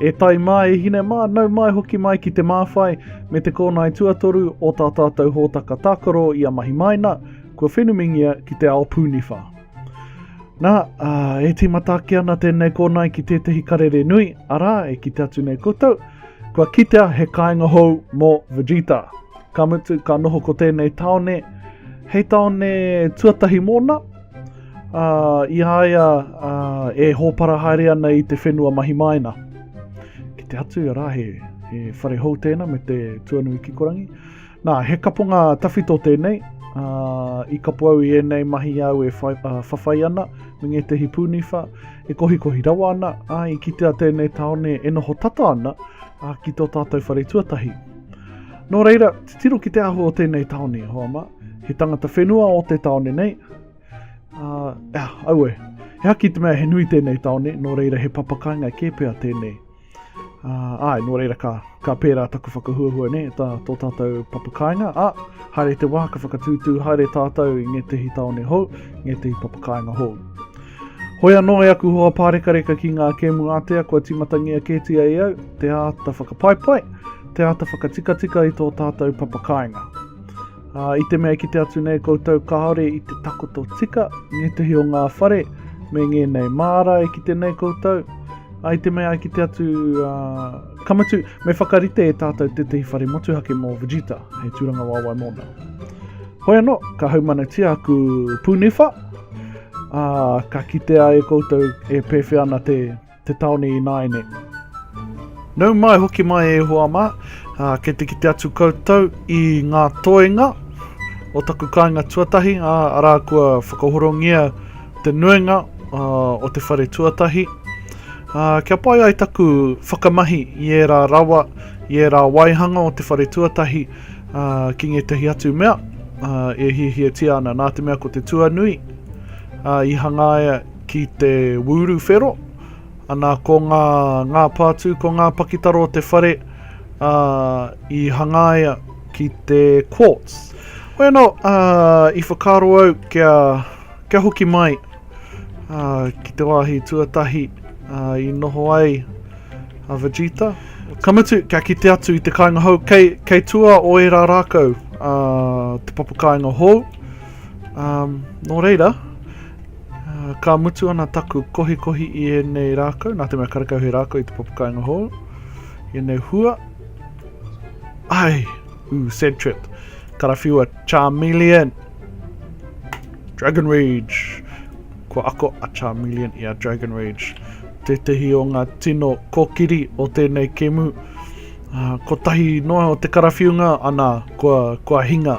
E tai mai, e hine mā, nau mai hoki mai ki te māwhai me te kōnae tuatoru o tā tātou hōtaka tākaro i a mahi maina, kua whenumingia ki te ao pūniwha. Nā, uh, e tīmata ake ana tēnei kōnae ki tētehi karere nui, arā, e kite atu nei koutou, kua kitea he kāinga hou mō Vegeta. Ka mutu, ka noho ko tēnei tāone hei tāone tuatahi mōna, ā, i a ia ā, e hōpara haere ana i te whenua mahi māina. Ki te hatu, arā, he, he whare hou tēnā me te tuanui kikorangi. Nā, he kaponga tawhito tēnei, ā, i kapo au i ēnei mahi āu e whai, ā, whawhai ana me ngētehi pūniwha, e kohikohi rawa ana, ā, i kitea tēnei tāone e noho tata ana ā, ki tō tātou whare tuatahi. Nō reira, titiro ki te ahu o tēnei tāone, Hoama, he tangata whenua o te tāone nei. Uh, ah, aue, he haki te mea he nui tēnei tāone, nō reira he papakainga kē pea tēnei. Uh, ai, nō reira ka, ka pērā taku whakahuahua ne, tā tō tātou papakainga. A, ah, haere te wā, ka whakatūtū haere tātou i ngētehi tāone hou, ngētehi papakainga hou. Hoi anō e aku hoa pārekareka ki ngā kēmu ātea kua tīmatangia kētia e au, te āta whakapaipai, te āta whakatikatika i tō tātou papakāinga. Ā, i te mea ki te atu nei koutou kāore i te takoto tika, ngētehi o ngā whare, me ngēnei mārae ki te nei koutou, ai te mea ki te atu uh, kamatu, me whakarite e tātou te tehi whare motuhake mō Vegeta, hei tūranga wāwai mōna. Hoi anō, ka haumanatia aku pūniwha, uh, ka kitea e koutou e pēwhea ana te te taone ināiane. Nau mai, hoki mai e Ihowa mā, ā, kei te kite atu koutou i ngā toenga o taku kāinga tuatahi, ā, arā kua whakahorongia te nuinga ā, o te whare tuatahi, ā, kia pai ai taku whakamahi i ērā rawa, i ērā waihanga o te whare tuatahi, ā, ki ngētehi atu mea, ā, e hiahiatia ana, nā te mea ko te tuanui, ā, i hangaia ki te wūru whero, ana ko ngā, ngā pātū, ko ngā pakitara o te whare, ā, i hangaia ki te quartz. Bueno, ā, i whakaaro au kia, kia hoki mai, ā, ki te wāhi tuatahi, ā, i noho ai a Vegeta. Ka mutu, kia kite atu i te kāinga hou, kei, kei tua o ērā rākau, ā, te papakāinga hou, ā, nō reira, Ka mutu ana taku kohikohi i ēnei rākau, nā te mea karekau he rākau i te papakāinga hou, i ēnei hua. Ai, u sad trip. Karawhiua, Charmeleon. Dragon Rage. Ko ako a Charmeleon i a Dragon Rage. Tētehi o ngā tino kokiri o tēnei kemu. Uh, kotahi noa o te karawhiunga, ana, kua, kua hinga.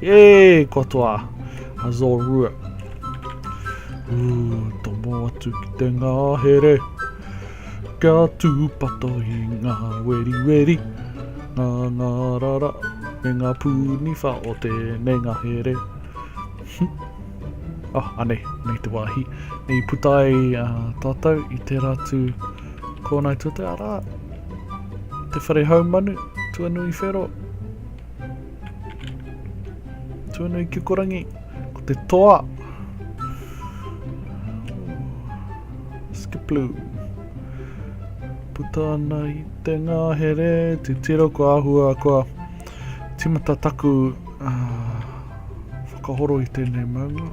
Yay, katoa. That's all ruat. Ooh, tomo atu ki te ngahere. Kia tūpato i ngā weri weri. Ngā ngā rara, me ngā pūniwha o tēnei ngahere. Ah, anei, nei te wāhi. Nei putai uh, tātou i te ratu. Kōnei tō te ara, te whare haumanu, tuanui whero, tuanui kikorangi, ko te toa, skiplu, puta ana i te ngahere, te tiro ko ahua, ko timata taku uh, whakahoro i tēnei maunga,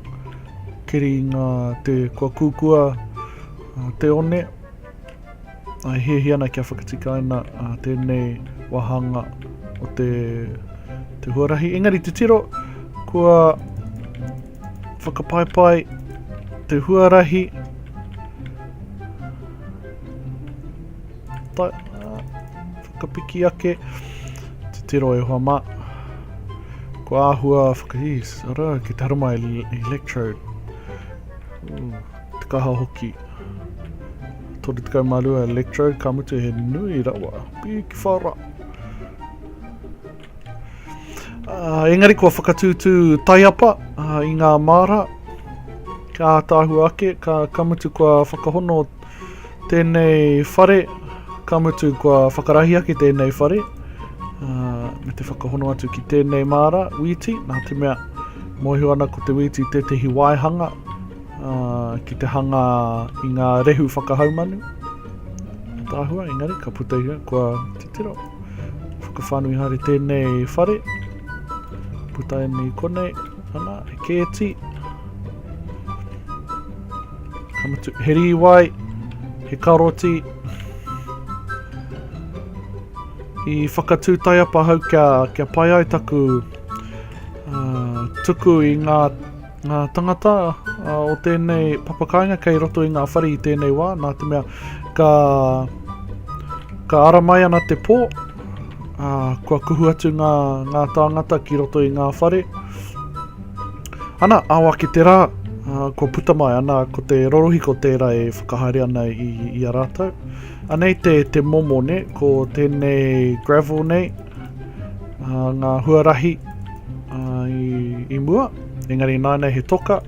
keri ngā te kua kukua, Te One, I hiahia ana kia whakatikaina tēnei wāhanga o te huarahi. Engari te tiro, kua whakapaipai te huarahi ta, whakapiki ake te tiro e hoa mā. Kua āhua whakahīs, ara, ki te harama electrode. Ooh. Te kaha hoki. 32 electrode, ka mutu he nui rawa. Piki whara. Uh, engari kua whakatūtū taiapa uh, i ngā māra, ka tāhu ake, ka, ka mutu kua whakahono tēnei whare, ka mutu kua whakarahi ake tēnei whare, uh, me te whakahono atu ki tēnei māra, wīti, nā te mea, mōhio ana ko te wīti tētehi waihanga, ki te hanga i ngā rehu whakahaumanu tāhua, engari ka puta ia kua titiro. Whakawhanui haere tēnei whare, puta e nei konei, ana, e kēti. Kamatu, he rīwai, he karoti. I whakatū taiapa hau kia, kia pai ai taku uh, tuku i ngā Ngā tangata o tēnei papakāinga kei roto i ngā whare i tēnei wā, nā te mea ka, ka ara mai ana te pō, ā, kua kuhu atu ngā, ngā tāngata ki roto i ngā whare. Ana, ao ake te rā, ā, kua puta mai, ana, ko te rorohiko tērā e whakahaere ana i, i a rātou. Anei te, te momo, ne, ko tēnei gravel nei, ā, ngā huarahi ā, i, i mua. Engari nānei he toka,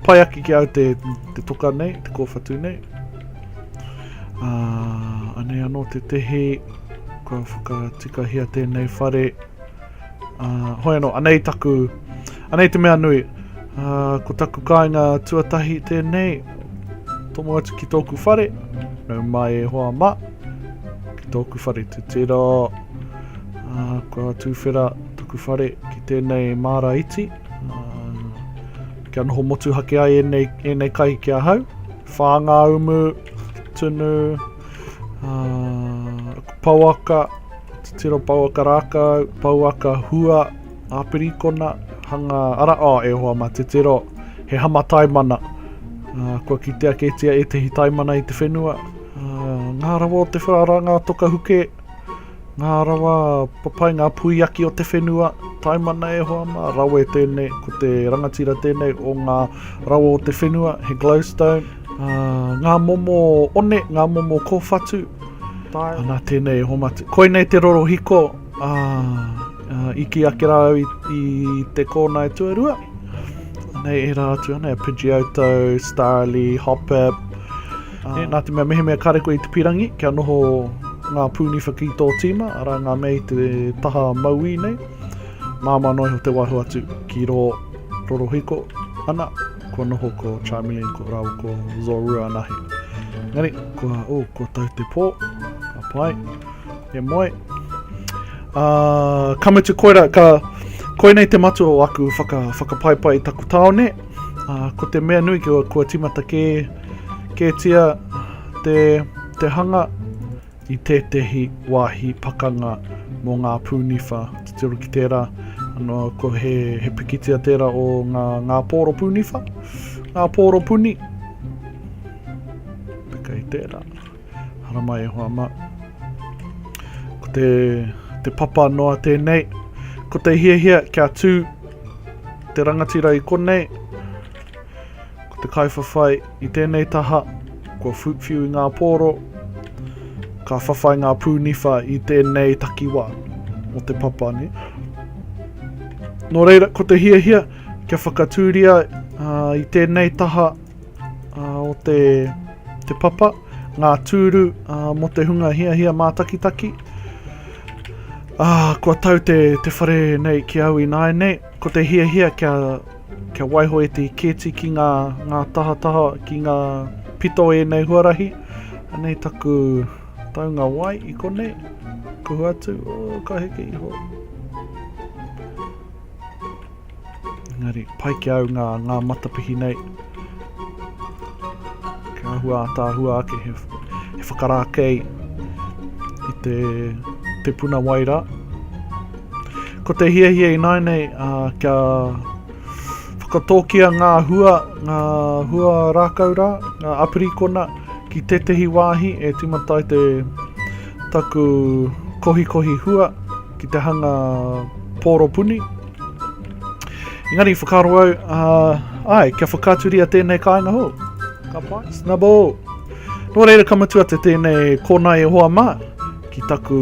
pai ake ki au te, te toka nei, te kōwhatu nei. Uh, anei anō te tehi, kua whakatikahia tēnei whare. Uh, hoi anō, anei taku, anei te mea nui. Uh, ko taku kāinga tuatahi tēnei, tomo atu ki tōku whare, nau mai e hoa ma, ki tōku whare tutira, uh, kua tūwhera, Tuku whare ki tēnei māra iti, kia noho motuhake ai ēnei, ēnei kai ki ahau. Whā ngā umu, tunu, uh, pauaka, tiro pauaka rākau, pauaka hua, āpirikona, hanga ara, oh, e hoa mā, te tiro, he hama taimana. Uh, kua kitea kētia e tehi taimana i te whenua. Uh, ngā rawa o te whara rā, ngā toka huke, Ngā rawa papai, ngā puiaki o te whenua, taimana e hoa mā, rawe tēnei, ko te rangatira tēnei o ngā rawa o te whenua, he glowstone, ā, ngā momo one, ngā momo kōwhatu, tae, ana tēnei e homatu. Koinei te rorohiko, ā, ā, i kī ake rā au i, i te kōna e tuarua, anei ērā atu anei, a Pidgeotto, Starly, Hoppip, Nē, nā te mea mehemea kare koe i te pirangi, kia noho ngā pūniwha ki tō tīma, arā ngā mea i te taha mauī nei, māmā noa iho te waiho atu ki rō rorohiko, ana, kua noho ko Charmeleon ko rāua ko Zorua anahe. Engari, kua, o, oh, kua tau te pō, ka pai, e moe. Uh, ka mutu koera, ka, koinei te matua o aku whaka, whakapaipai i taku tāone, uh, ko te mea nui kua, kua timata kē, Kētia te te hanga i tētehi wāhi pakanga mō ngā pūniwha. Titiro ki tērā, anō ko he, he pikitia tērā o ngā, ngā pōro pūniwha, ngā pōro puni. Peka i tērā. Haramai e hoa mā. Ko te, te papa noa tēnei. Ko te hiahia kia tū te rangatira i konei, Ko te kaiwhawhai i tēnei taha, kua whiu i ngā pōro, ka whawhai ngā pūniwha i tēnei takiwā o te papa ne. Nō reira, ko te hiahia, kia whakatūria uh, i tēnei taha uh, o te, te papa, ngā tūru uh, mo te hunga hiahia mātakitaki. Ah, kua tau te, te whare nei ki au i nāi nei, ko te hiahia kia Kia waiho e te kēti ki ngā tahataha, ki ngā pito ēnei huarahi. Anei taku taunga wai i konei. Kuhu atu, oh, ka heke iho. Engari, pai ki au ngā, ngā matapihi nei. Kia ahua ātāhua ake he, he whakarākei i te, te puna wai rā. Ko te hiahia ināinei a kia whakatōkia ngā hua, ngā hua rākau rā, ngā apirikona ki tētehi wāhi e timatai te taku kohikohi hua ki te hanga pōropuni. Engari, whakaro au, uh, ai, kia whakaturia tēnei kāinga hou. Ka pai, snubble! Nō reira ka mutu atu tēnei kōnai e hoa mā ki taku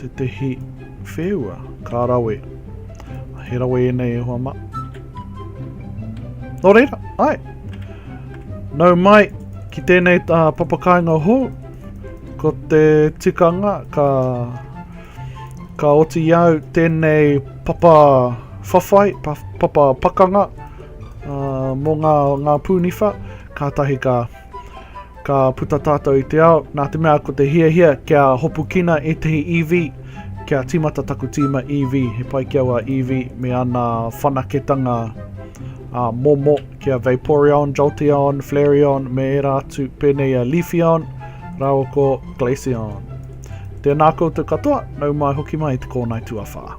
Tētehi wheua ka rawe. He rawe ēnei e hoa ma. Nō reira, ai. Nau mai ki tēnei tā papakainga hou. Ko te tikanga ka ka oti au tēnei papa whawhai, papa pakanga uh, mō ngā, ngā pūniwha, kātahi ka Ka puta tātou i te ao, nā te mea ko te hiahia kia hopukina ētahi EV, kia tīmata taku tīma EV, he pai ki aua EV me ana whanaketanga ā, momo ki a Vaporeon, Jolteon, Flareon me ērā atu, pēnei i a Leafeon rāua ko Glaceon. Tēnā koutou katoa, nau mai hoki mai te kōnae tuawhā.